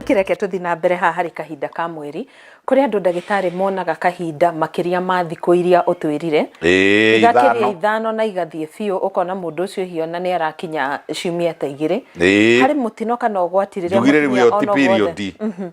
kĩreke tũthi na mbere haha harĩ kahinda ka mweri kũrĩ andũ ndagĩtarĩ monaga kahinda makĩria ma thikũ iria ũtwĩrire Ĩĩ, igakĩria ithano. ithano na igathiĩ biũ ũkona mũndũ ũcio hihi ona nĩ arakinya ciumia ta igĩrĩ Ĩĩ. harĩ mũtino kana ũgwati rĩrĩa njugire rĩu mũtumia ĩyo ti ona ũgwothe- period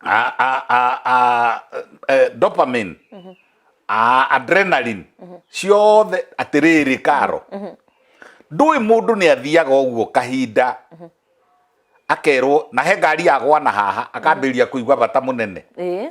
a, a, a, a, eh, dopamine a adrenaline ciothe atĩrĩrĩ karo ndũĩ mũndũ nĩ athiaga ũguo kahinda akerwo na he ngari yagwana haha akambĩrĩria kũigua bata mũnene ĩĩ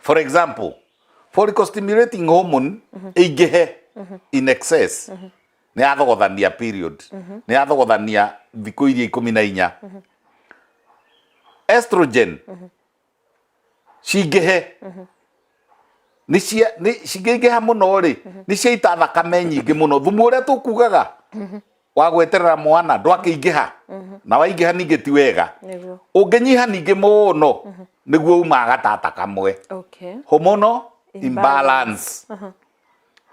for example follicle stimulating hormone ĩingĩhe in excess nĩ yathogothania period nĩ yathogothania thikũ iria ikũmi na inya estrogen cingĩhe nĩ cia nĩ cingĩingĩha mũno rĩ nĩ ciaita thakame nyingĩ mũno thumu ũrĩa tũkugaga wa gweterera mwana ndwakĩingĩha mhm. na waingĩha ningĩ ti wega ũngĩnyiha ningĩ mũno mhm. nĩguo umaga gatata kamwe hormonal imbalance mhm.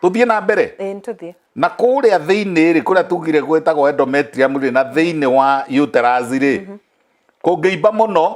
tũthiĩ na mbere na kũrĩa thĩinĩ rĩ kũrĩa tugire gwĩtagwo endometrium rĩ na thĩinĩ wa uterus rĩ kũngĩimba mũno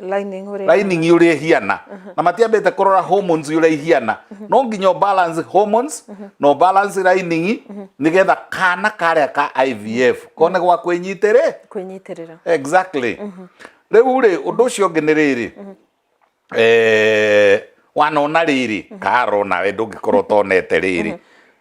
lining ũrĩa lining ũrĩa ihiana na matiambĩte kũrora hormones ũrĩa ihiana no nginya balance hormones no balance lining nigetha kana karĩa ka IVF kone gwa kwĩnyitĩrĩ kwĩnyitĩrĩra exactly rĩu rĩ ũndũ ũcio ũngĩ nĩ rĩrĩ eh, wanona rĩrĩ karona we ndũngĩkorwo ũtonete rĩrĩ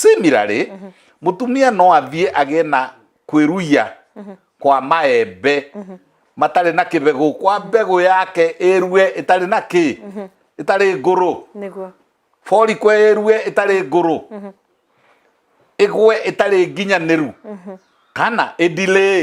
Similarly, mũtumia no athiĩ agĩe na kwĩruia kwa maembe matarĩ na kĩbegũ kwa mbegũ yake ĩrue ĩtarĩ na kĩ ĩtarĩ ngũrũ nĩguo forikwe ĩrue ĩtarĩ ngũrũ ĩgwe ĩtarĩ nginyanĩru kana ĩdilĩĩ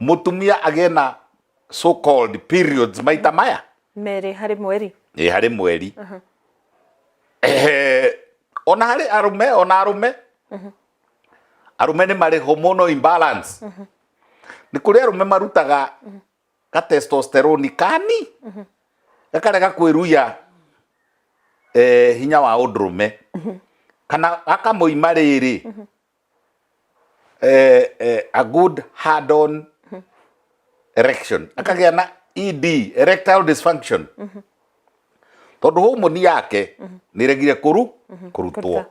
mũtumia agĩe na so called periods maita maya merĩ harĩ mweri ĩ harĩ mweri Ehe, ona harĩ arume ona arume arume nĩ marĩ hormonal imbalance nĩ kũrĩ arume marutaga ka testosterone kani gakarega kwĩruya eh, hinya wa ũndũrũme kana gakamoima rĩrĩ eh, eh, a good hard-on erection akagĩa na ed erectile dysfunction tondũ homoni yake nĩ regire kũru kũrutwo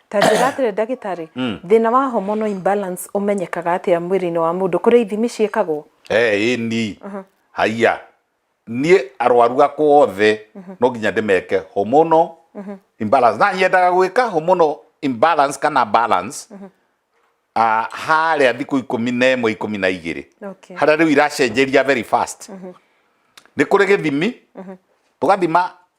ta njĩra atĩrĩ ndagĩtarĩ thĩna wa hormonal imbalance ũmenyekaga atĩa mwĩrĩ-inĩ wa mũndũ kũrĩ ithimi ciĩkagwo Eh, ĩni haiya niĩ arwaru akwa othe no nginya ndĩmeke hormonal imbalance na yendaga gwĩka hormonal imbalance kana balance ah, harĩa thikũ ikũmi na ĩmwe ikũmi na igĩrĩ Okay. harĩa rĩu iracenjeria very fast nĩ kũrĩ gĩthimi tũgathima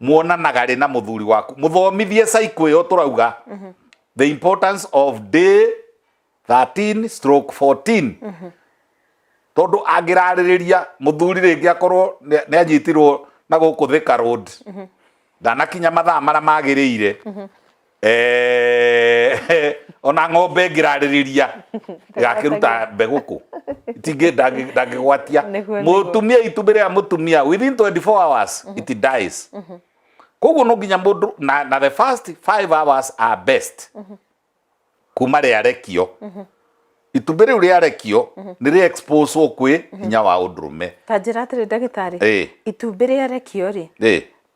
muonanaga rĩ na muthuri waku muthomithie cycle ĩyo turauga mhm. the importance of day 13 stroke 14 mhm. tondu angiraririria muthuri ringi akorwo ni anyitirwo na guku thika road mhm. ndanakinya mathaa maria magirire Eh, ona ng'ombe ngirarĩrĩria ĩgakĩruta mbegũ kũ itingĩ ndangĩ- ndangĩgwatia Nĩguo, nĩguo. mũtumia itumbĩ rĩa mũtumia within 24 hours it dies koguo no nginya mũndũ na, na the first 5 hours are best kuma rĩarekio itumbĩ rĩu rĩarekio nĩ rĩ expose kwĩ hinya wa ũndũrũme ta njĩra atĩrĩ ndagĩtarĩ Eh. itumbĩ rĩarekio rĩ ĩ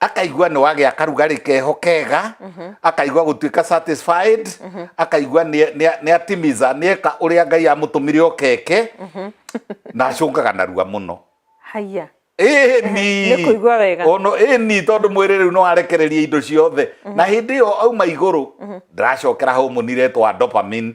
akaigua nĩ wagĩa karugarĩ keho kega akaigua gũtuĩka satisfied akaigua nĩ- nĩ- nĩ atimiza nĩ eka ũrĩa ngai amũtũmire okeke na acũngaga narua mũno haiya Ĩni. Nĩ kũigua wega. Ono ĩni tondũ mwĩrĩ rĩu nĩ warekereria indo ciothe na hĩndĩ ĩyo auma igũrũ ndaracokera homunire twa dopamine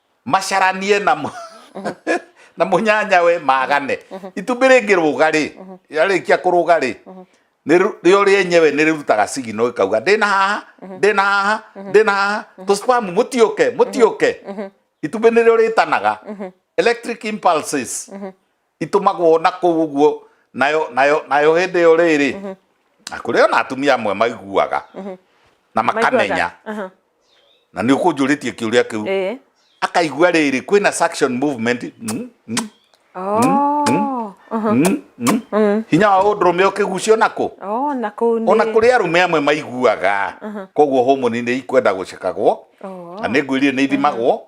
macaranie na mũ- na mũnyanya we magane itumbĩ rĩngĩ rũga rĩ yarĩkia kũrũga rĩ nĩ- rĩo rĩenyewe nĩ rĩrutaga sigino ĩkauga ndĩna haha ndĩna haha ndĩna haha tũspamu mũtiũke mũtiũke itumbĩ nĩrĩo rĩtanaga electric impulses itũmagwo na kũu ũguo nayo nayo nayo hĩndĩ ĩyo rĩrĩ mhm. na kũrĩ ona atumia amwe maiguaga mhm. na makamenya na nĩ ũkũnjũrĩtie kĩũria kĩu eh. akaigua rĩrĩ kwĩna suction movement mm, mm, oh. mm, hinya wa ũndũrũme ũkĩgucio nakũ oh, ona kũrĩ arũme amwe maiguaga koguo homoni nĩ ikwenda gũcekagwo oh. na nĩ ngwĩrire nĩ ithimagwo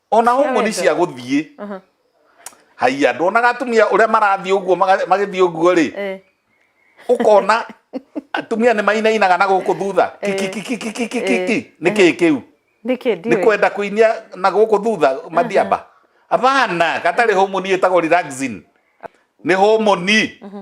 ona ũguo nĩ cia gũthiĩ haiya ndonaga atumia ũrĩa marathiĩ ũguo magĩthiĩ ũguo rĩ eh. ũkona atumia nĩ mainainaga na gũkũ thutha eh. kikikikikikiki eh. nĩ kĩĩ kĩu nĩ kwenda kũinia na gũkũ thutha mathiamba abana gatarĩ homoni ĩtagwo relaxing nĩ homoni mhm.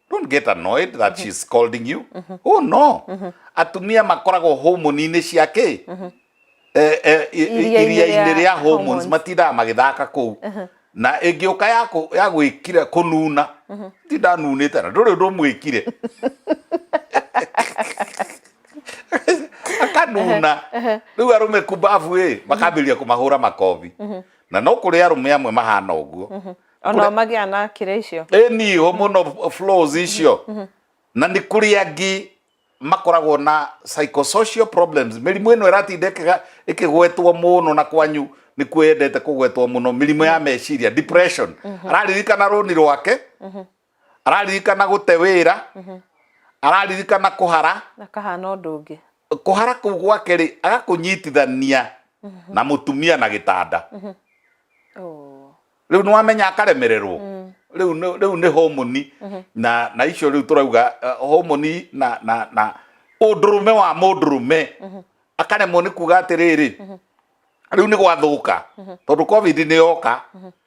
don't get annoyed that mm-hmm. she's scolding you mm -hmm. oh no mm -hmm. atumia makoragwo homoni-inĩ cia kä mm-hmm. eh, eh, iria-inĩ rĩa hormones matindaga magĩthaka kũu uh-huh. na ĩngĩ ũka ya gwĩkire kũnuna mm-hmm. ti ndanunĩte na ndũrĩ ũndũ mwĩkire akanuna uh-huh. rĩu arũme kumbabu ĩ makambĩrĩria kũmahũra makobi na no kũrĩ arũme amwe mahana ũguo ona magĩa na kĩrĩa icio ĩni hormonal flows icio na nĩ kũrĩ angĩ makoragwo na psychosocial problems mĩrimũ ĩno ĩratinda ĩkĩga- ĩkĩgwetwo mũno na kwanyu nĩ kuo yendete kũgwetwo mũno mĩrimũ ya meciria depression araririkana rũni rwake araririkana gũte wĩra mhm. araririkana kũhara akahana ũndũ ũngĩ kũhara kũu gwake rĩ agakũnyitithania mhm. na mũtumia na gĩtanda mhm. rĩu nĩ wamenya akaremererwo mm. rĩu nĩ homoni na na icio rĩu tũrauga eh, homoni na na na ũndũrũme wa mũndũrũme akaremwo nĩ kuga atĩrĩrĩ rĩu nĩ gwathũka tondũ covid nĩ yoka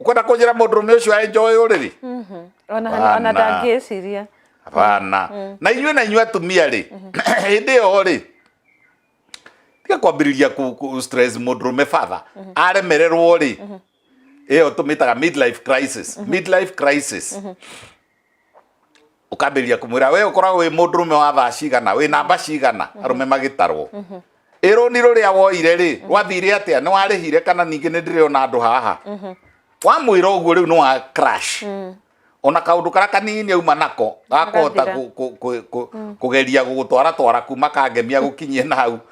ukwenda kunjira mundurume ucio aenjoy uriri Mhm. ona Bana. ona ndangĩciria hapana na inyuĩ na inyuĩ atumia rĩ hĩndĩ ĩyo rĩ tiga kwambĩrĩria ku- ku- stress mũndũrũme father aremererwo rĩ ĩyo tũmĩtaga midlife crisis midlife crisis ukambĩrĩria kumwira we ukoragwo wi mundu rume wa thaa cigana wi namba cigana mhm. arume magitarwo mhm. iruni ruria woire ri mhm. rwathire atia ni warihire kana ningi ni ndire ona andu haha wamwira uguo riu ni wa crash mm. ona kaundu kara kanini auma nako gakota kugeria gugutwara twara kuma kangemia gukinyie na hau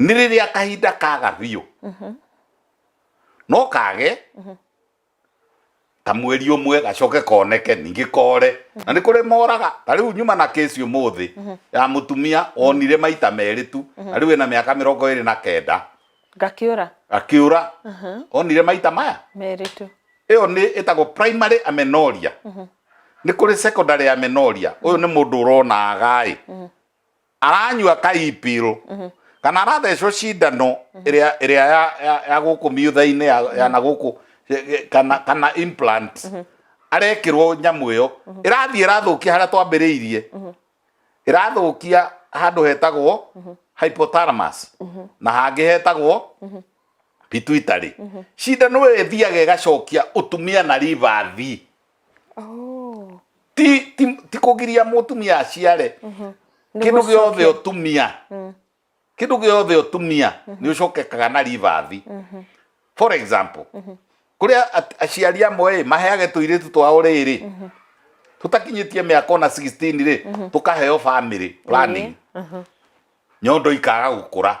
nĩ rĩrĩa kahinda kaga biũ mhm. no kage mhm. ta mweri ũmwe gacoke koneke ningĩ kore mhm. na nĩ kũrĩ moraga ta rĩu nyuma na kesi ũmũthĩ ya mũtumia onire maita merĩ tu na rĩu ĩna mĩaka mĩrongo ĩrĩ na kenda gakiũra gakiũra onire maita maya merĩ tu ĩyo nĩ ĩtagwo primary amenoria nĩ kũrĩ secondary amenoria ũyũ nĩ mũndũ ũronaga ĩ aranyua kaipirũ kana arathecwo cindano ĩrĩa ĩrĩa ya- ya- ya gũkũ miutha-inĩ ya- ya na gũkũ eh, eh, kana kana implant arekĩrwo nyamũ ĩyo ĩrathiĩ ĩrathũkia harĩa twambĩrĩirie ĩrathũkia handũ hetagwo hypothalamus na hangĩ hetagwo pituitary cindano ĩyo ĩthiaga ĩgacokia ũtumia na rivathi Oh. ti ti ti kugiria mutumia aciare Mhm. Nĩ kindu gũcokia. giothe utumia Mm. kindu giothe utumia ni ucokekaga na rivathi Mhm. for example kuria at- aciari amwe ĩ, maheage tuiritu twao riri tutakinyitie miaka ona 16 ri tukaheo family planning Mhm. nyondo ikaga gukura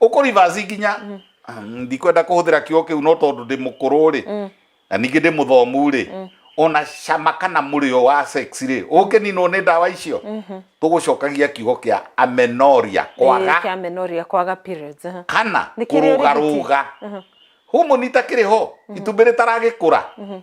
uko reverse nginya mm. ah, ndikwenda kuhuthira kiugo kiu no tondu ndi mukuru ri mm. na ningi ndi muthomu ri mm. ona cama kana murio wa sex ri uke ni no ni ndawa icio mm-hmm. tugucokagia kiugo kia amenoria eh, kwaga kia amenoria kwaga periods uh-huh. kana kuruga ruga uh-huh. humu ni takiri ho mm-hmm. itumbiri taragikura mm-hmm.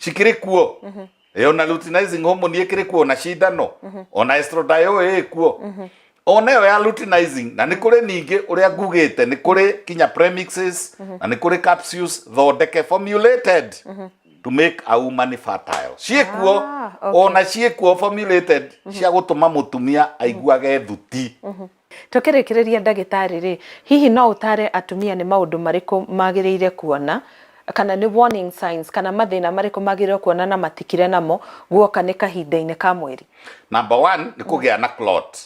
cikĩrĩ kuo Eh, ona luteinizing hormone ĩkĩrĩ kuo na cindano ona estradiol ĩĩ kuo ona ĩyo ya luteinizing na nĩ kũrĩ ningĩ ũrĩa ngugĩte nĩ kũrĩ kinya premixes na nĩ kũrĩ capsules thondeke formulated to make a woman fertile ciĩ kuo Ah, okay. ona ciĩ kuo formulated cia gũtũma mũtumia aiguage thuti Tũkĩrĩkĩrĩria, ndagĩtarĩ-rĩ, hihi no ũtaare atumia nĩ maũndũ marĩkũ magĩrĩire kuona, kana nĩ warning signs kana mathĩna marĩkũ magĩrĩirũo kuona na matikire namo guoka nĩ kahinda-inĩ ka mweri? Number one nĩ kũgĩa na clot.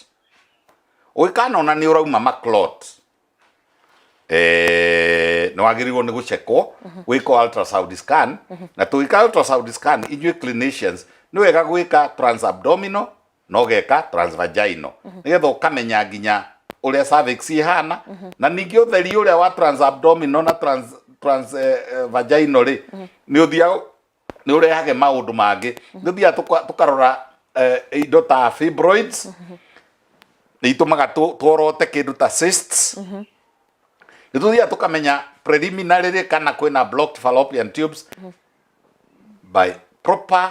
Ũngĩkanona nĩ ũrauma ma clot, nĩ wagĩrĩirũo nĩ gũcekwo, wĩkwo ultrasound scan, na tũgĩka ultrasound scan, inyuĩ clinicians, nĩ wega gwĩka trans-abdominal na ũgeka transvaginal nĩgetha ũkamenya nginya ũrĩa cervix ihana na ningĩ ũtheri ũrĩa wa transabdominal na trans, trans eh, eh, vaginal rĩ nĩ ũthiaga nĩ ũrehage maũndũ mangĩ nĩ ũthiaga tũka- tũkarora eh, indo ta fibroids nĩ itũmaga tũ- tuorote kĩndũ ta cysts nĩ tũthiaga tũkamenya preliminary rĩ kana kwĩna blocked fallopian tubes by proper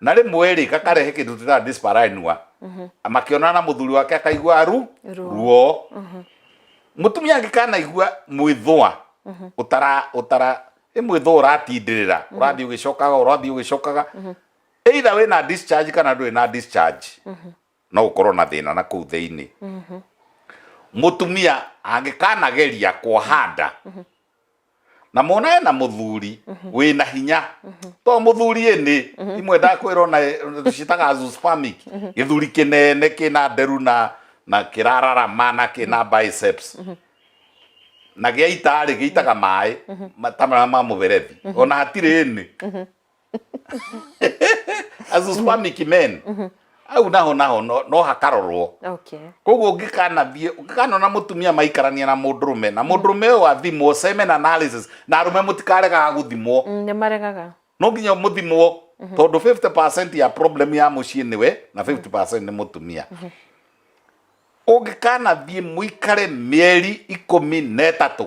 na rĩmwe-rĩ gakarehe kĩndũ twĩtaga dyspareunia makĩonana na mũthuri wake akaigua ru Ruo. ruo mũtumia angĩ kanaigua mwĩthũa ũtara ũtara ĩ mwĩthũa ũratindĩrĩra ũrathiĩ ũgĩcokaga ũrathiĩ ũgĩcokaga either wĩna discharge kana ndũrĩ na discharge no gũkorwo na thĩna na kũu thĩinĩ mhm. mũtumia angĩkanageria kwahanda mhm. na mona ena muthuri mhm. wĩ na hinya to muthuri ĩnĩ imwe ndakwĩrwo na citaga azoospermic gĩthuri kĩnene kĩna nderu na na kĩrararama na kĩna biceps na gĩaita rĩ gĩitaga maĩ ta ma mũberethi ona hatirĩ ĩnĩ as a spermic men au naho naho no no hakarorwo okay koguo ũngĩkanathiĩ ũngĩkanona mũtumia maikarania na mũndũrũme na mũndũrũme ũyũ athimwo semen analysis na arũme mũtikaregaga gũthimwo Mm, nĩ maregaga no nginya mũthimwo tondũ 50% ya problem ya mũciĩ nĩwe na 50% nĩ mũtumia ũngĩkanathiĩ mũikare mĩeri ikũmi na ĩtatũ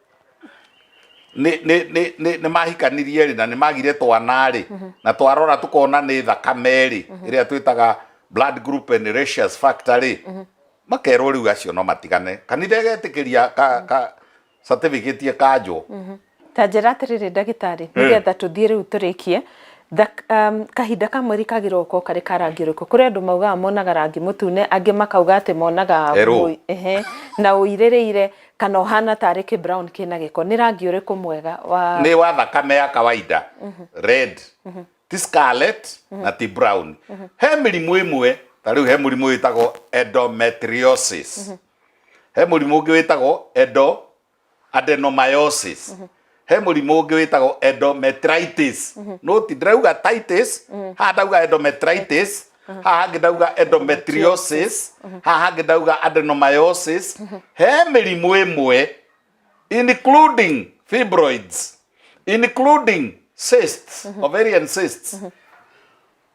nĩ nĩ- nĩ- nĩ- nĩ mahikanirie rĩ na nĩ magire twana rĩ na twarora tũkona nĩ thakame rĩ ĩrĩa twĩtaga blood group and ratios factor rĩ makerwo rĩu acio no matigane kanitha ĩgetĩkĩria ka- ka certificate ĩkanjwo ta njĩra atĩrĩrĩ ndagĩtarĩ nĩgetha tũthiĩ rĩu tũrĩkie Thak- um, kahinda ka mweri kagĩrĩirwo gũkorwo karĩ ka rangi ũrĩkũ kũrĩ andũ maugaga monaga rangi mũtune angĩ makauga atĩ monaga Erũ. mũi- ehe, na ũirĩrĩire Kana ũhana tarĩ kĩ brown kĩna gĩko. Nĩ rangi ũrĩkũ mwega wa. Nĩ wa thakame ya kawaida. Red. Ti scarlet na ti brown. He mĩrimũ ĩmwe, ta rĩu he mũrimũ wĩtagwo endometriosis. He mũrimũ ũngĩ wĩtagwo endo, adenomyosis. he mũrimũ ũngĩ wĩtagwo endometritis mhm. no ti ndĩrauga titis mhm. haha ndauga endometritis mhm. haha hangĩ ndauga endometriosis haha hangĩ ndauga adenomyosis he mĩrimũ ĩmwe including fibroids including cysts ovarian cysts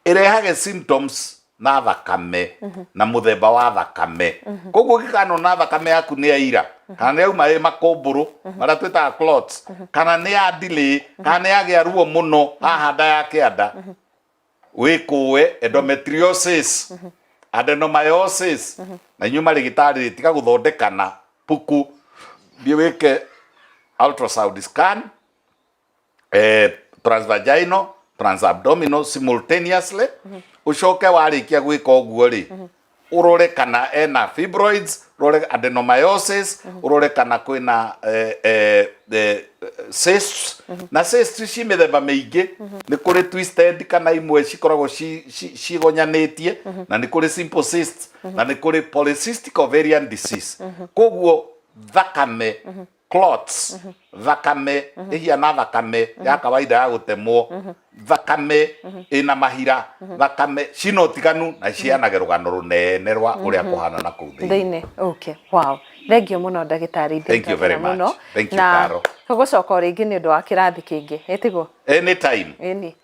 ĩrehage symptoms na thakame na mũthemba wa thakame koguo ũngĩkanona thakame yaku nĩ ya ira kana nĩ yauma ĩ makũmbũrũ marĩa twĩtaga clots kana nĩ ya delay kana nĩ yagĩa ruo mũno haha nda ya kĩanda wĩkũwe endometriosis adenomyosis na inyuĩ marĩgĩtarĩ tiga gũthondekana puku thiĩ wĩke ultrasound scan eh, transvaginal transabdominal simultaneously ucoke warĩkia gwĩka ũguo rĩ ũrore kana ena fibroids ũrore adenomyosis ũrore kana kwĩna eh, eh, eh, cysts na cysts ci mĩthemba mĩingĩ nĩ kũrĩ twisted kana imwe cikoragwo ci- ci- cigonyanĩtie na nĩ kũrĩ simple cysts na nĩ kũrĩ polycystic ovarian disease koguo thakame clots thakame ihiana thakame ya kawaida ya gutemwo thakame ina mahira thakame cina utiganu na cianage rugano runene rwa uria kuhana na kuu thiini thĩinĩ okay wow thengio mũno ndagĩtarĩ ithuĩ Thank you very twendana mũno. much. Thank you, na Carol. tũgũcoka o rĩngĩ nĩ ũndũ wa kĩrathi kĩngĩ ĩtigwo anytime ĩni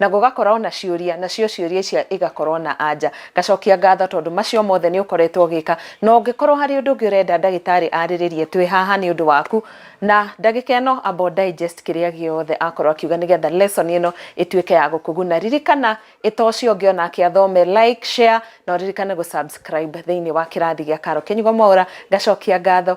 Na gũgakorwo na ciũria, nacio ciũria icio igakorwo na anja. Ngacokia ngatho tondũ macio mothe nĩ ũkoretwo ũgĩka. Na ũngĩkorwo harĩ ũndũ ũngĩ ũrenda ndagĩtarĩ arĩrĩrie, twĩ haha nĩ ũndũ waku. Na ndagĩka ĩno amba ũ digest kĩrĩa gĩothe akorwo akiuga nĩ getha lesson ĩno ĩtuĩke ya gũkũguna. Ririkana ĩ ta ũcio ũngĩ o nake athome, like, share, na ũririkane gũ subscribe thĩinĩ wa kĩrathi gĩa Carol Kenyugo Mwaũra. Ngacokia ngatho